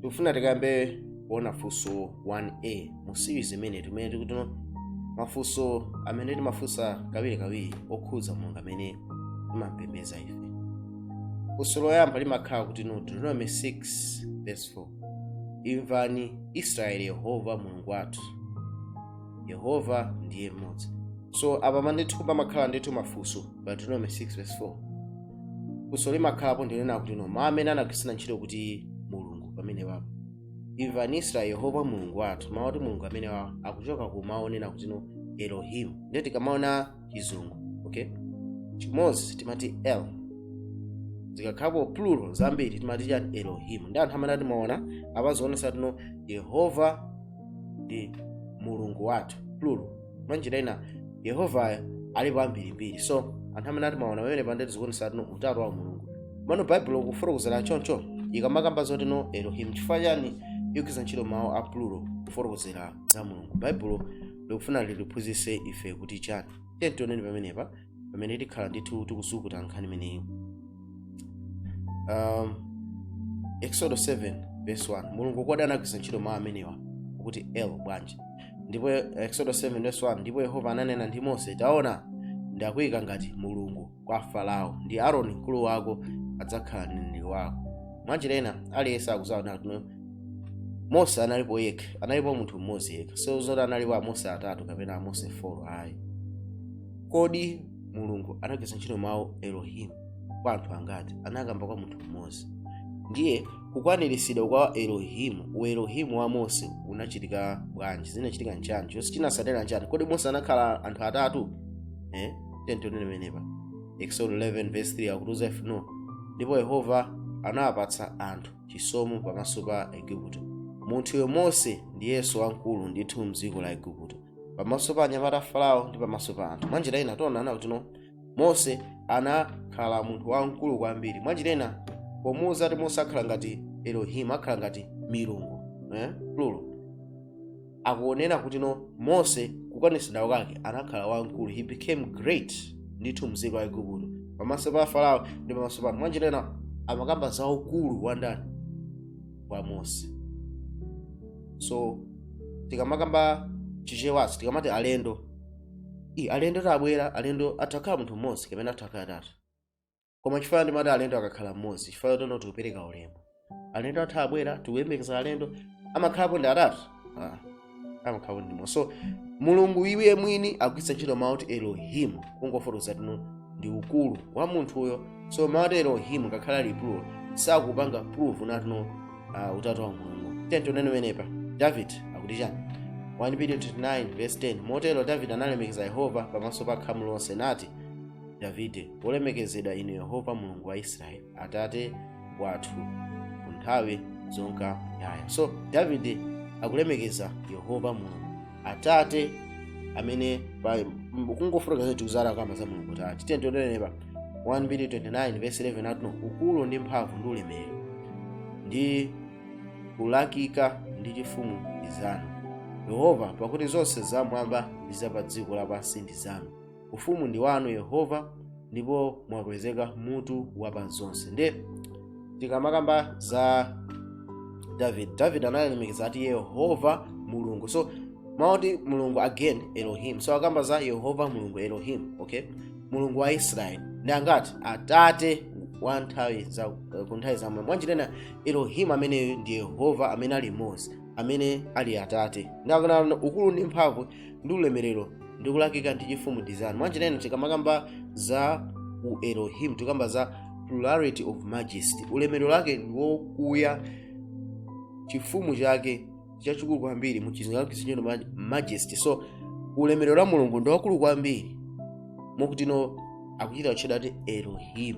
tikufuna tikambe kuona funso 1a mu series imene timene tikuti no mafunso amene timafunsa kawirikawiri okhudza mulungu amene timampembedza ife funso loyamba limakhala kuti no deuteronomy 6 verse 4 imvani israeli yehova mulungu wathu yehova ndiye mmodzi so apa ndithu pamakhala ndithu mafunso pa deuteronomy 6 verse 4 funso limakhalapo ndinena kuti no mawu amene anagwiritsa ntchito kuti mulungu pamenepapo imvani israeli yehova mulungu wathu mawu oti mulungu amenewawo akuchoka ku mawu onena kuti no elohim ndiye tikamaona chizungu okay chimodzi timati el zikakhalapo plural zambiri timati chani elohim ndiye anthu amanena kuti mwaona apa zikuonesa kuti no yehova ndi mulungu wathu plural mwa njira ina yehovayo alipo ambirimbiri so anthu amanena kuti mwaona pamenepa ndiye kuti zikuonesa kuti no utatu wa mulungu komano baibulo kufotokozera choncho ikamakamba zoti no elohim chifukwa chani ikugwiritsa ntchito mawu a plural kufotokozera za mulungu baibulo likufuna litiphunzitse ife kuti chani tiyeni tioneni pamenepa pamene tikhala ndithu tikuzukuta nkhani imeneyi um, exodo 7 verse 1 mulungu kodi anagwiritsa ntchito mawu amenewa kuti el bwanji ndipo exodo 7 verse 1 ndipo yehova ananena ndi mose taona ndakuyika ngati mulungu kwa farao ndi aroni mkulu wako adzakhala mneneri wako mwanjira ina aliyense akuzaona kuti mose analipo yekha analipo munthu mmodzi yekha so zoti analipo amose atatu kapena amose 4 ayi kodi mulungu anagwiritsa ntchito mawu elohim kwa anthu angati anakamba kwa munthu mmodzi ndiye kukwaniritsidwa kwa elohimu uelohimu wa mose unachitika bwanji zinachitika nchani chonse chinatsatira nchani kodi mose anakhala anthu atatu eh? tiyeni tione pamenepa exodo 11 verse 3 akutiuza ife no ndipo yehova anawapatsa anthu chisomo pamaso pa aigupto munthuyo mose ndiyenso wamkulu ndithu mdziko la aigupto pamaso pa anyamata a farao ndi pamaso pa anthu mwanjira ina tikuona kuti no mose anakhala munthu wamkulu kwambiri mwanjira ina pomuuza kuti mose akhala ngati elohim akhala ngati milungu eh? plural akunena kuti no mose kukwanitsidwa kwake anakhala wamkulu he became great ndithu mdziko la aigupto pamaso pa farao ndi pamaso pa anthu mwanjira ina amakamba za ukulu wa ndani wa mose so tikamakamba chichewanso tikamati alendo i alendo athu abwera alendo atha kukhala munthu mmodzi kapena atha kukhala atatu koma chifukwa ndimati alendo akakhala mmodzi chifukwa tono tikupereka ulemu alendo athu abwera tikuyembekeza alendo amakhalapo ndi atatu ah. amakhala kuti ndi mulungu so mulungu iye mwini akugwiritsa ntchito mawu oti elohim kungofotokoza kutino ndi ukulu wa munthuyo so mawu oti elohim ngakhale ali plural sakupanga prove natino uh, utatu wa mulungu then tionene menepa david akuti chani 1 mbiri 29 verse 10 motero david analemekeza yehova pamaso pa khamu lonse nati davide wolemekezedwa inu yehova mulungu wa israeli atate wathu ku nthawi zonka muyaya so davide akulemekeza yehova mulungu atate amene pa- m- kungofotokoza tikuzala kamba za mulungu tate tiye tionenepa 1 mbiri 29 verse 11 akutino ukulu ndi mphamvu ndi ulemerero ndi kulakika ndi chifumu ndi zanu yehova pakuti zonse zamwamba ndi za pa dziko lapansi ndi zanu ufumu ndi wanu yehova ndipo mwakwezeka mutu wa pa zonse nde tikamakamba za david david analemekeza ati yehova mulungu so mawu oti mulungu again elohim so akamba za yehova mulungu elohim okay mulungu wa israeli ndi angati atate wa nthawi za ku nthawi za muyaya mwanjira ina elohim ameneyo ndi yehova amene ali mmodzi amene ali atate nde akunena ukulu ndi mphamvu ndi ulemerero ndi kulakika ndi chifumu ndi zanu mwanjira ina tikamakamba za u elohim tikamba za plurality of majesty ulemerero wake ndi wokuya chifumu chake chachikulu kwambiri mu chizingalalo chisinjeno majesty so ulemerero wa mulungu ndi waukulu kwambiri mokutino akuchita kutchedwa kuti elohim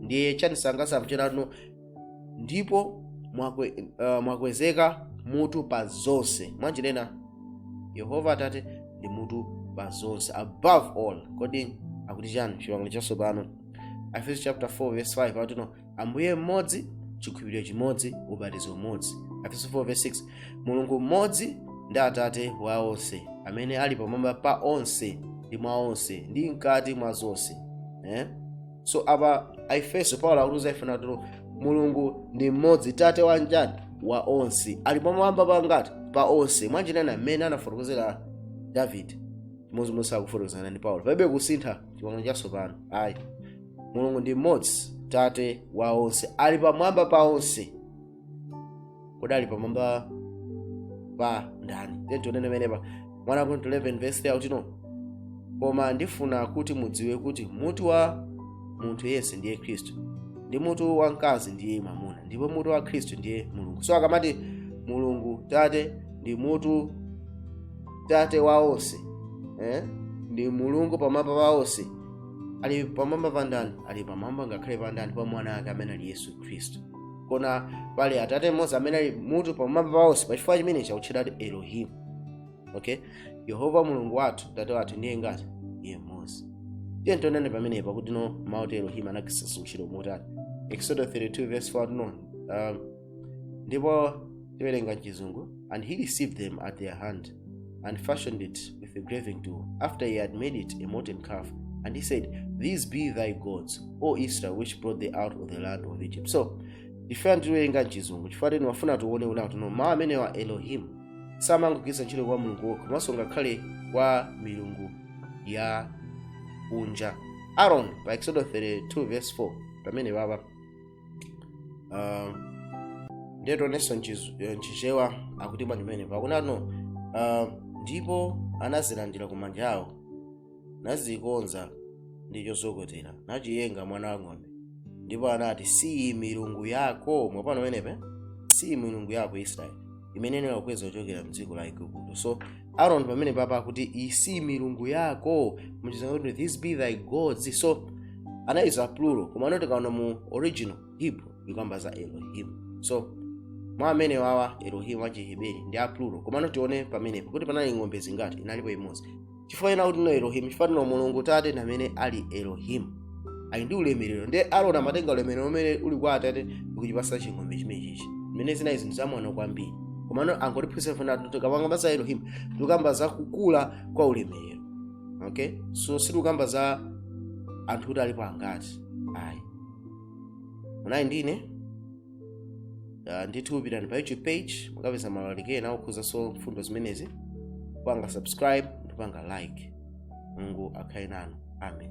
ndiye chani sangasanu chedano ndipo mwakwe, uh, mwakwezeka mutu pa zonse mwanjira ina yehova atate ndi mutu pa zonse above all kodi akuti chani chipangano chatsopano efeso chapter 4 verse 5 akutino ambuye mmodzi chikhulupiriro chimodzi ubatizo umodzi efeso 4 verse 6 mulungu mmodzi ndi atate wa onse amene ali pamwamba pa onse ndi mwa onse ndi mkati mwa zonse eh? so apa aefeso paulo akutiuza ife natino mulungu ndi mmodzi tate wa njani wa onse ali pamwamba pangati pa onse mwanjira ina mmene anafotokozera davide chimodzimodzi akufotokozana ndi paulo palibe kusintha chipangano chatsopano ayi mulungu ndi mmodzi tate wa onse ali pamwamba pa onse kodi ali pamwamba pa ndani then tionene menepa 1 akorinto 11 verse 3 akutino koma ndifuna kuti mudziwe kuti mutu wa munthu yense ndiye khristu ndi mutu wa mkazi ndiye mwamuna ndipo mutu wa khristu ndiye mulungu so akamati mulungu tate ndi mutu tate wa onse eh? ndi mulungu pamwamba pa onse ali pamwamba pa ndani ali pamwamba ngakhale pa ndani pa mwana ake amene ali yesu khristu koma pali atate mmodzi amene ali mutu pamwamba pa onse pachifukwa chimenechi akutchedwa kuti elohim okay yehova mulungu wathu tate wathu ndiye ngati iye mmodzi tiyeni tione pamenepa kuti mawu oti elohim anagwiritsa ntchito motani exodo 32 verse 4 no um, ndipo tiwerenga mchizungu And he received them at their hand, and fashioned it with a graving tool, after he had made it a molten calf. And they said, These be thy gods, O Israel, which brought thee out of the land of Egypt. So, ife tawerenga mchizungu chifukwa timafuna tione kuti akuti mawu amenewa elohimu samangogwiritsa ntchito kwa mulungu yekha komanso ngakhale kwa milungu ya kunja aron pa exodo 32 verse 4 pamenepapa uh, ndiye tionenso mchiz- eh, mchichewa akuti bwanji pamenepa akunena kuti uh, ndipo anazilandira ku manja awo nazikonza ndi chozokotera nachiyenga mwana wa ng'ombe ndipo anati siyi milungu yako mwapano pamenepe siyi milungu yako israeli imene inakukweza kuchokera mdziko la igupto so aron pamenepapa akuti iyi si milungu yako muchizungu akuti these be thy gods so anayuza plural komano tikaona mu original hebrew ikukamba za elohim so mawu amenewa a elohim achiheberi ndi a plural komano tione pamenepo kuti panali ng'ombe zingati inalipo imodzi chifukwa chani akuti elohimu chifukwa choti mulungu tate ndi amene ali elohimu ali ndi ulemerero ndiye aroni amatenga ulemerero umene uli kwa atate ndikuchipasa ching'ombe chimechichi zimene zinali zinthu zamwano kwambiri komano akungotiphunzitsa kuti tikakamba za elohimu tikukamba za kukula kwa ulemerero okay so sitikukamba za anthu kuti alipo angati ayi munali ndi ine uh, ndithu pitani pa youtube page mukapeza maulaliki ena okhuzanso mfundo zimenezi mupange subscribe ndi kupanga like mulungu akhale nanu amen